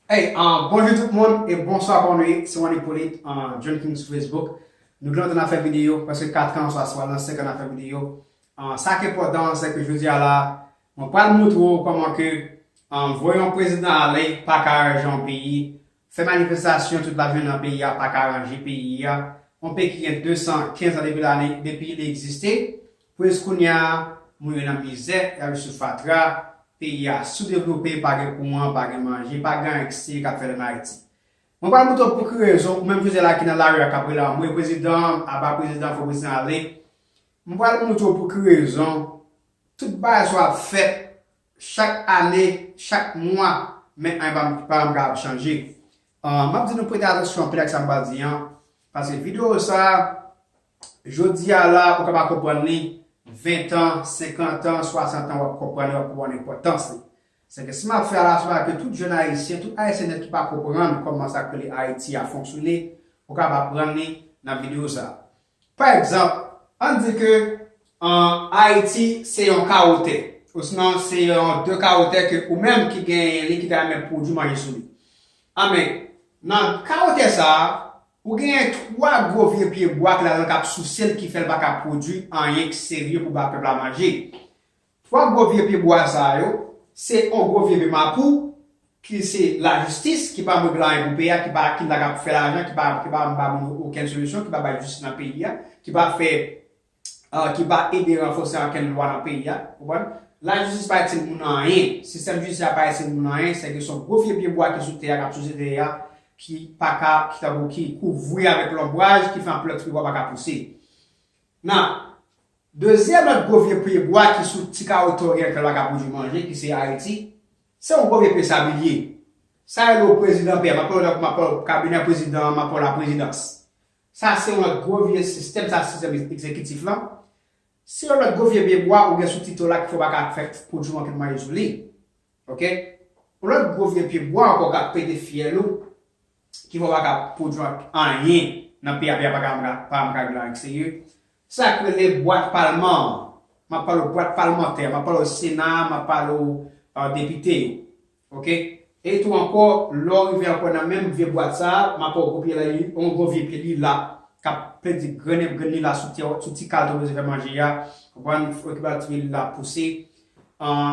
Hey, uh, bonjou tout moun e bonswa bon nou ye, se Wandy Polit, uh, John King sou Facebook. Nou gen lontan nan fè videyo, paske 4 an sa swa nan 5 an nan fè videyo. Uh, sa ki important se ke jodi a la, mwen pral moutre ou koman ke um, voye yon prezidan ale pa ka aranje yon peyi, Fè manifestasyon tout lajounen nan peyi a paka ranje peyi a, yon peyi ki gen 215 an depi lane depi li egziste, pou jiskounya moun yo nan mizè, y ap viv sou fatra, peyi a soudevlope, pa gen kouran, pa gen manje, pa gen anyen ki serye k ap fèt ann Ayiti. Mwen pral boute w pou ki rezon ou menm José la ki nan lari a k ap rele anmwe prezidan an, aba prezidan an fò prezidan ale, mwen pral moutre w pou ki rezon tout bagay sa yo ap fèt Chak ane, chak mwa, men anyen pa pa janm ka ap chanje. M ap di nou prete atansyon anpil ak sa m pral di an, pase videyo sa a, jodi a la ou ka pa konprann li, ventan, senkantan, swasantan w ap konprann li, w ap konprann enpòtans li. Sèke si m ap fè alasyon a ke tout jenn Ayisyen, tout Ayisyen nèt ki pa konprann kòman sa k rele Ayiti a fonksyone, ou kab aprann li nan videyo sa a. Pa egzanp, ann di ke Ayiti se yon kawo tè, osnon se yon de kawo tè ke ou menm ki genyen li ki ta renmen pwodui manje sou li. Anben, nan kawo tè sa a, ou genyen twa gwo vye pyebwa ki ladan l k ap souse l ki fè l pa ka pwodui anyen ki serye pou ba pèp la manje. 3 gwo vye pye bwa sa yo se on gwo vye pye mapou ki se la jistis ki pa regle anyen pou peyi a ki pa ki la kap fè lajan ki pa ki pa ba moun yo okenn solisyon ki pa bay jistis nan peyi a ki pa fè ki pa ede ranfose ankenn lwa nan peyi a ou konprann la jistis pa itil moun anyen sistèm jidisyè a pa itil moun anyen se ke son gwo vye pye bwa ki sou tè a kap souse tè a ki pa ka ki tankou ki kouvri avèk lonbraj ki fè anpl lòt pye bwa pa ka pouse nan. Dezyèm lòt gwo vye pye bwa ki sou ti kawo tè oryantal la ka pwodwi manje ki se Ayiti, se yon gwo vye pye sabilye. Sa rele w prezidan pè, m ap pale w tankou m ap pale w kabinè prezidan an, m ap pale w laprezidans. Sa se yon lòt gwo vye sistèm, sa se sistèm egzekitif lan. Se yon lòt gwo vye pye bwa ou gen sou ti tè w la ki fè w pa ka fè pwodwi anpil manje sou li. Ok. Yon lòt gwo vye pye bwa ankò k ap pete fyèl ou, ki fè w pa ka pwodwi anyen nan pye a, pye a pa janm ka viv lan eksterye, Sa yo k rele bwat palman an. M ap pale w bwat palmantè a, m ap pale w sena a, m ap pale w depite yo. Ok. E tou ankò, lè w rive ankò nan menm vye bwat sa a, m ap pale w gwo pye la, yon gwo vye pye lila k ap pèdi grenn ep grenn lila sou tè w, sou ti kal to bezwen fè manje a. Konprann? Ou fè okipe l, ti pye lila ap pouse.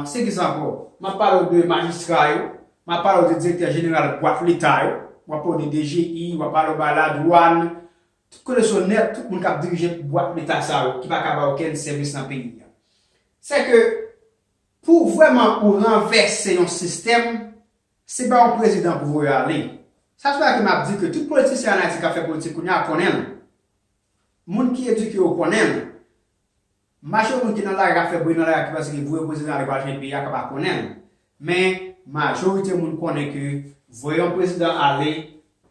Se ki sa ankò? M ap pale w de majistra yo. M ap pale w de direktè jeneral bwat leta yo. M ap pale w de DGI, m ap pale w ba ladwàn. Tout kote so nèt tout moun kap dirije bwat leta sa yo ki pa ka bay okenn sèvis nan peyi a. Sè ke pou vrèman ou ranvèse yon sistèm se pa yon prezidan pou voye ale. Sa se la ke map di ke tout politisyen an Ayiti kap fè politik kounye a konnen l. Moun ki edike yo konnen l. Majò moun ki nan lari ap fè bri nan lari ki panse ke voye prezidan ale pral chanj peyi a ka pa konnenl men majorite moun konnen ke voye yon prezidan ale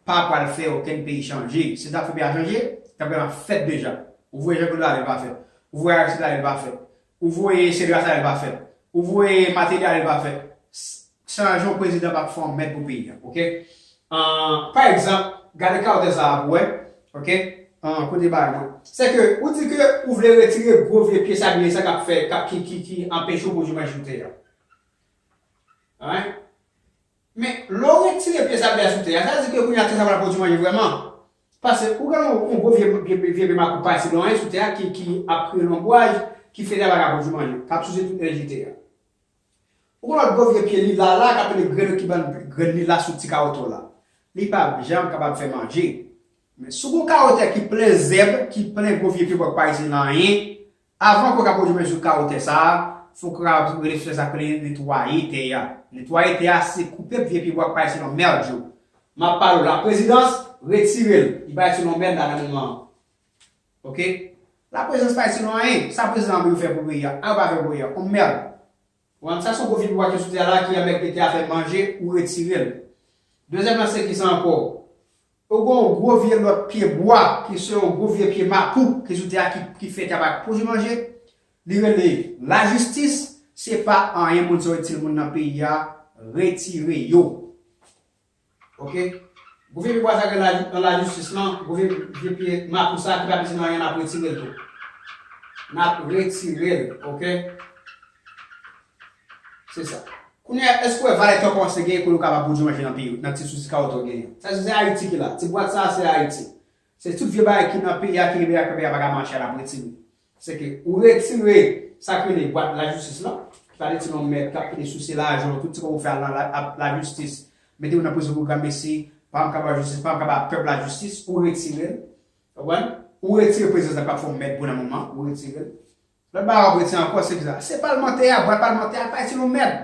pa pral fè okenn peyi chanje sil tap fè peyi a chanje tap gentan fèt deja ou voye Jean Claude ale li pa fèt ou voye Aristide ale li pa fèt ou voye Cedras ale li pa fèt ou voye Martelly ale li pa fèt Sa a jan yon prezidan kap fè yon mèd pou peyi a ok pa egzanp gade carter sa a pou wè ok kote bagay yo se ke ou di ke ou vle retire gwo vye pye sabliye sa kap fè kap ki ki ki anpeche yo pwodwi manje sou tè a alright men lè ou retire pye sabliye a sou tè a sa vle di ke kounye a tè sa pral pwodwi manje vrèman pase ou gen yon gwo vye vye vye pye makout pa di lonbren sou tè a ki ki ap kreye lonbwaj ki fè tè a paka pwodwi manje kap souse tout enèji tè a. Ou konn lòt gwo vye pye li la la kap rele grelo ki bann grenn li la sou ti kawotew la. Li pap janm kapab fè manje. Men si w gon kawotè ki plen zèb, ki plen gwo vye pye bwa ki pa itilize nan anyen, avan ke w ka pwodui men sou kawotè sa a, fok ou kapab rele sou tè sa k rele netwaye tè a. Netwaye tè a se koupe vye pye bwa ki pa itilize nan mèd yo. Map pale w laprezidans, retire l. Li pa itilize nan mèd la nan moman an. Ok la prezans pa itil nou anyen sa prezidan anbeyou fè pou peyi a anyen ou pa fè pou peyi a on merd ou ann sa son gwo figura ki soti a la ki anbèk pete afè manje ou retirel dezyèm nan se kisa ankò ou gon on gwo vye lòt pye bwa ki se on gwo vye pye mapou ki soti a ki fè kaba ki pwodwi manje li rele la jistis se pa anyen moun se on itil moun nan peyi a retire yo. Ok Gouve pi bwa sa gen nan la jistis lan gouve vye pye mapou sa ki pa pitin anyen nap retirel tou nap retirel ok se sa. Kounyea eske ou wè valè kè kòmanse genyen koulè ou kapab pwodwi manje nan peyi ou nan ti sousi kawòt ou genyen sa se ayiti ki la ti bwat sa se ayiti se tout vye bagay ki nan peyi a ki rive ak peyi a paka mache a nap retire Se ke ou retire sa k rele bwat lajistis lan, ki pale ti non mèt k ap kite souse lajan w, tout ti kòb ou fè al nan lajistis, mete ou nan prizon pou granmesi, pa m kaba jistis, pa m kaba pèp la jistis, ou retire l. Ou konprann? Ou retire prezans nan platfòm mèt pou nan moman, ou retire l. Lòt bagay w ap retire ankò se ki sa? Se palmantè a, bwat palmantè a, al pale ti non mèt!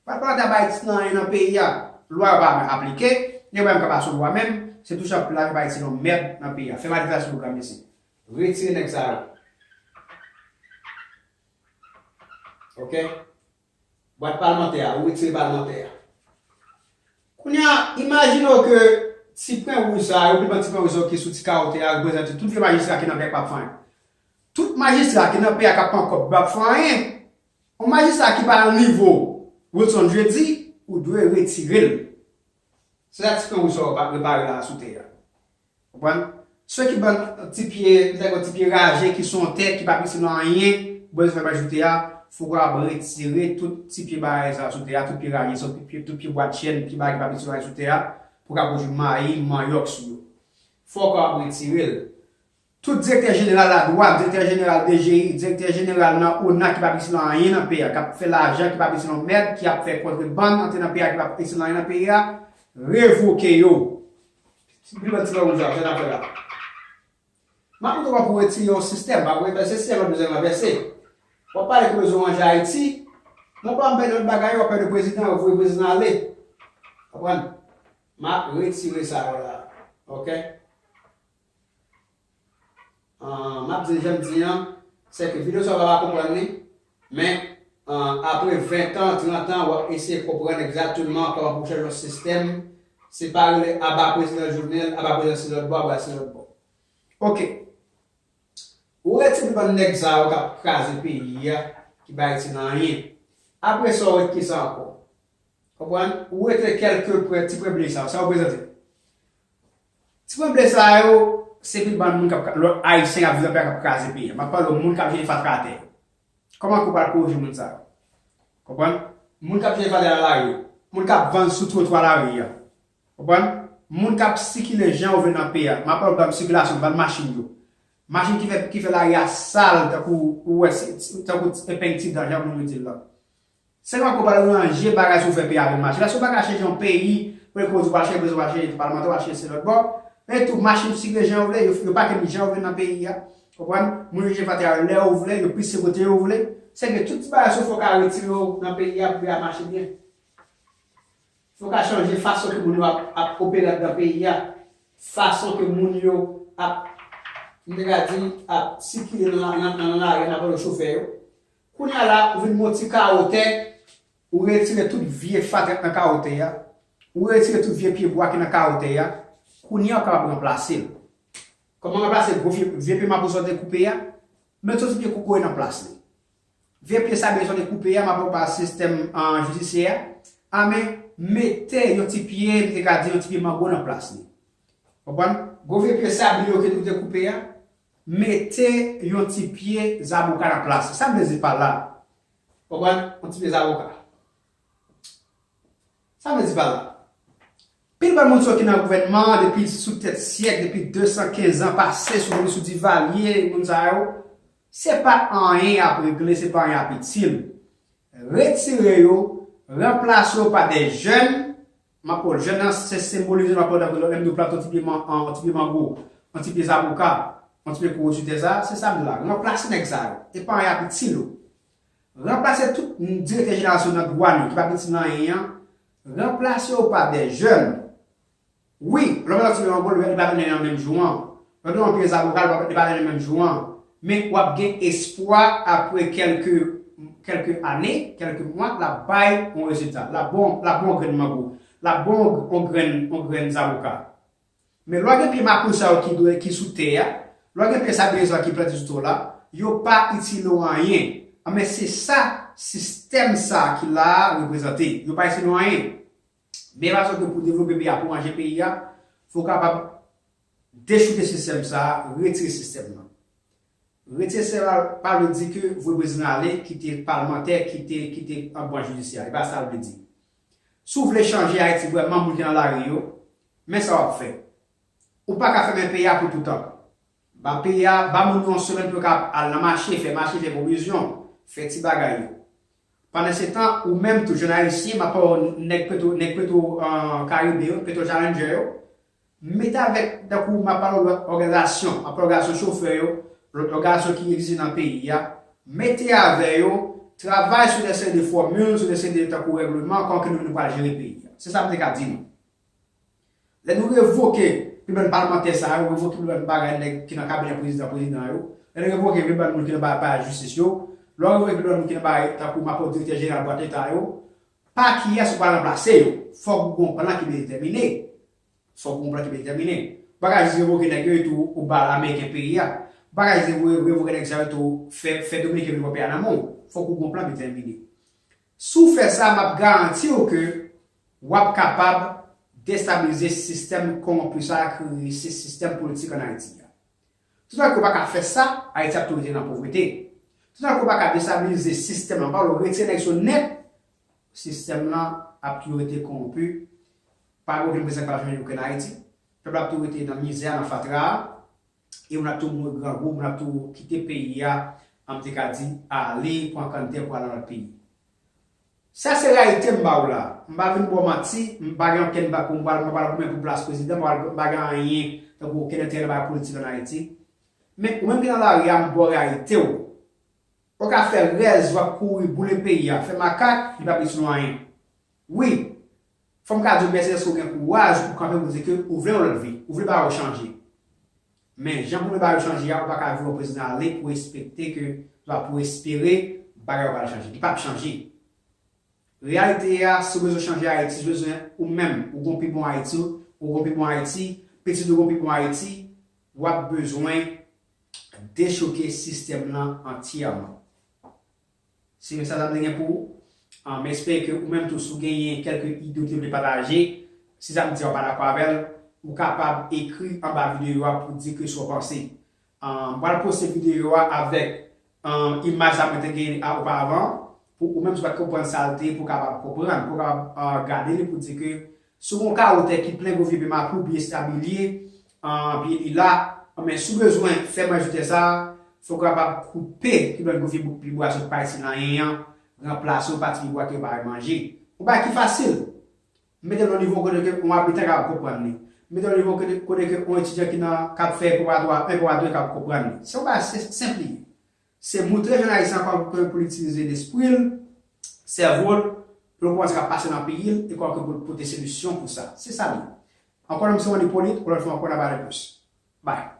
Papa ta bay ti nan anyen nan peyi a lwa yo pa vle aplike yo menm kap aso lwa menm se tou chanpre la yo bay ti nan merd nan peyi a fè manifestasyon pou gran mesi retire neg sa yo ok bwat palmantè a ou retire palmantè a kounya imajine w ke ti pwen wouj sa yo pi ban ti pwen wouj sa yo ki sou ti kawo te a reprezante tout vye majistra ki nan peyi a ki pap fè anyen tout majistra ki nan peyi a kap pran kob yo pap fè anyen On majistra ki pa nan nivo Wilson Jeudi ou dwe retire l. Se sa ti fre ou sa yo pa repare la a sou tè a. Konprann? Sou ki ban ti pye, m ta di yon ti pye raje ki sou yon tè ki pa itil nan anyen, bwè zòrèy bay sou tè a, fò ou kapab retire tout ti pye bagay sa yo sou tè a, tout pye raje sa yo, tout pye bwadchenn, pye bagay ki pa itil nan anyen sou tè a pou w ka pwodui mayi, manyòk sou yo. Fò ou kapab retire l. Tout direktè jeneral ladwàn, direktè jeneral DGI, direktè jeneral nan ona ki pap itil nan anyen nan peyi a, kap fè lajan ki pap itil yon mèd, ki ap fè kontrebann antre nan peyi a ki pap itil anyen nan peyi a, revoke yo. Pi lwen ti lòm di a, sa n ap fè la. M ap mete w pou retire yon sistèm, pa pou envèse, si yon lòt bezwen ranvèse. W ap pale ke bezwen w ranje Ayiti, men w pa anpè de lòt bagay, w ap pè de prezidan, w ap voye prezidan ale. Konprann? M ap retire sa yo la. Ok? Ahh map di janm di an sè ke video sa ou pa va konprann li men apre 20 tan 30 tan wap eseye konprann egzatteman kòman pou chanje yon sistèm se pa rele aba prezidan jovenel aba prezidan se lòt bò aba se lòt bò ok ou ret se pou bann nèg sa yo kap kraze peyi a ki bay itil anyen apre sa ou ret kisa ankò konprann ou rete kèlke prè ti prè bgy sa yo sa reprezante. Ti pwèble sa yo se pi bann moun kap lòt ayisyen kap viv anpè kap kraze peyi a map pale w moun kap jete fatra atè yo kòman ke w pral koreje moun sa yo konprann moun kap jete fatra nan lari yo moun kap vann sou twotwa lari a konprann moun kap sikile jan yo vle nan peyi a map pale w bann sikilasyon bann machin yo machin ki fè lari a sal tankou ou wè tankou epeng ti dan jan moun yo di l lan Se pa ke w pral ranje bagay si w fè peyi a vin mache. Paske w pa ka chèche yon peyi pou e koz ou pa chèche prezidan, ou pa chèche palmantè, ou pa chèche se lòt bò. E tou, machin yo sikile jan yo vle, yo pake nou jan yo vle nan peyi a. Ou konprann? Moun yo jete fatra yo lè yo vle, yo pise kote yo vle. Se ke tout ti bagay si w fè w ka retire yo nan peyi a pou peyi a mache byen. Si w ka chanje fason ke moun yo ap opere anndan peyi a, fason ke moun yo ap, m te ka di, ap sikile nan lari an apre yo chofè yo. Kounya la ou vin gon ti kawo tè, ou retire tout vye fatra k nan kawo tè a, ou retire tout vye pye bwa ki nan kawo tè a, kounya ou kapab ranplase l. Kòman ranplase gwo vye vye pye mabou sa ou te koupe a? Met yon ti pye kokoye nan plas li. Vye pye sabliye sa ou te koupe a, m ap ba ou pa sistèm jidisyè a, a men mete yon ti pye m te ka di yon ti pye mango nan plas li. Konprann? Gwo vye pye sabliye ou te koupe a, Mete yon ti pye zaboka nan plas li. Sa m vle di pa la. Ou konprann? Yon ti pye zaboka. Sa m vle di pa la. Pil bann moun sa yo ki nan gouvènman an depi sou tèt syèk, depi 215 an pase, sou depi sou Divalye, moun sa yo, se pa anyen y ap regle, se pa anyen y ap itil. Retire yo, ranplase yo pa de jèn, Mapòt, jèn nan se senbolize mapòt dan vre lò lè m di w plante yon ti pye man yon ti pye mango yon ti pye zaboka yon ti pye kokoye sou tè sa se sa m di w la ranplase nèg sa yo e paran y ap itil ou ranplase tout direktè jeneral sou nan dwàn yo ki p ap itil nan anyen an ranplase yo pa dè jèn wi lò m wè yon ti pye mango li pa vin nan yon an menm jou an Nan do anpil zaboka li pa pral depann nan menm jou an, men w ap gen espwa apre kèlke kèlke ane, kèlke mwa l ap bay on rezilta, l ap ba w l ap ba w on grenn mango, l ap ba w on grenn on grenn zaboka. Men lè w gen pye makout sa yo ki dwe ki sou tè a, lè w gen pye sabliye sa yo ki plante sou tè w la, yo pa itile w anyen. Anben se sa sistèm sa ki la a reprezante. Yo pa itile w anyen. Meyè fason ke pou devlope peyi a, pou ranje peyi a, fò kapab dechouke sistèm sa a, retire sistèm nan. Retire sistèm nan pa vle di ke voye prezidan ale, kite palmantè, kite, kite an branch jidisyè. E pa sa l vle di. Si w vle chanje Ayiti vrèman, moun ki nan lari yo, men sa w ap fè. Ou pa ka fèmen peyi a pou toutan. Ba peyi a, ba moun yo yon semèn pou yo ka al nan mache, fè mache, fè pwovizyon, fè ti bagay yo. Pandansetan, ou menm tou, jèn Ayisyen, m ap pale w nèg petwo, nèg petwo karibe yo, petwo chalenjè yo, mete avèk, tankou m ap pale w lòt òganizasyon, m ap pale w òganizasyon chofè yo, lòt òganizasyon ki egziste nan peyi a, mete avè yo, travay sou de seri de fòmil, sou de seri de tankou règleman, kòman ke nou menm nou pral jere peyi a. Se sa m te ka di nou. Lè nou revoke pi bann palmantè sa yo, revoke pi bann bagay nèg ki nan kabinè prezidan prezidan yo, lè nou revoke pi bann moun ki nan ba palè jistis yo, lè w revoke pi bann moun ki nan ba tankou mapou direktè jeneral bwat leta yo, pa kiyès ou pral ranplase yo? Fòk ou gen yon plan ki byen detèmine. Fòk ou gen yon plan ki byen detèmine. Ou pa ka jis revoke nèg yo etou ou ba ameriken peyi a. Ou pa ka jis revoke nèg sa yo etou fè dominiken vin pran peyi a nan men w. Fòk ou gen yon plan ki detèmine. Si w fè sa, m ap garanti w ke w ap kapab destabilize sistèm kowonpi sa a ki rele sistèm politik ann Ayiti a. Toutan ke w pa ka fè sa, Ayiti ap toujou rete nan povrete. Toutan ke w pa ka destabilize sistèm lan, pa wè w retire nèg sa yo nèt, sistèm lan ap toujou rete kowonpi, pa gen okenn prezan k ap jwenn okenn Ayiti, pèp la ap toujou rete nan mizè a, nan fatra a. e moun ap tou mouri grangou, moun ap tou kite peyi a, an m te ka di, ale pran kann tè pou al nan lòt peyi. Sa se reyalite m ba ou la. M pa vin ba w manti, m pa gen okenn bak pou m pral, m pa pral goumen pou plas prezidan, m pa pral, m pa gen anyen, tankou okenn enterè nan bagay politik ann Ayiti. Men, ou menm ki nan lari a, m ba w reyalite w. Ou ka fè rèz, w ap kouri, boule peyi a, fè makak, li p ap itil w anyen. Wi! Fòm ka diw mèsi dèske ou gen kouraj pou kanpe pou di ke ou vle yon lòt vi, ou vle bagay yo chanje. Men, jan pou vle bagay yo chanje a, ou pa ka di yon prezidan ale pou espekte ke, oswa pou espere bagay yo pral chanje. Li pap chanje. Reyalite a, si ou bezwen chanje Ayiti, si ou bezwen ou menm, ou gen yon pi bon Ayiti, ou gen yon pi bon Ayiti, pitit ou gen yon pi bon Ayiti, wap bezwen dechouke sistèm lan antyèman. Se menm sa sa vle gen pou ou? M espere ke ou menm tou si w genyen kèlke ide w te vle pataje, si sa m di a ou pa dakò avè l, ou kapab ekri anba videyo a pou di ke sa w panse. M pral poste videyo a avèk imaj sa mwen te genyen a oparvan pou ou menm si w pa t konprann sa l te ye pou w kapab konprann, pou w kapab gade li pou di ke Si w gen yon kawo tè ki plen gwo vye pye mapou ou byen stabilie pye li la, anben si w bezwen fè manjri tè sa a, fò w kapab koupe yon lòt gwo vye bout pye bwa sot pay ti lanyen an, ranplase yon pati pye bwa ke yo pa wè manje. Yon bagay ki fasil! M mete l nan nivo kote ke yon abitan kapab konprann li. M mete l nan nivo kote ke yon etidyan ki nan k ap fè preparatwa 1, preparatwa 2 kapab konprann li. Se yon bagay senp li ye. Se moutre jan Ayisyen an pa konn kòmanw pou l itilize lespri l, sèvo l, pou l konprann sa k ap pase nan peyi l e kòman ke pou l pote solisyon pou sa. Se sa l ye. Ankò non m se Wandi Ipolit, yon lòt fwa ankò n ap pale plis. Bye!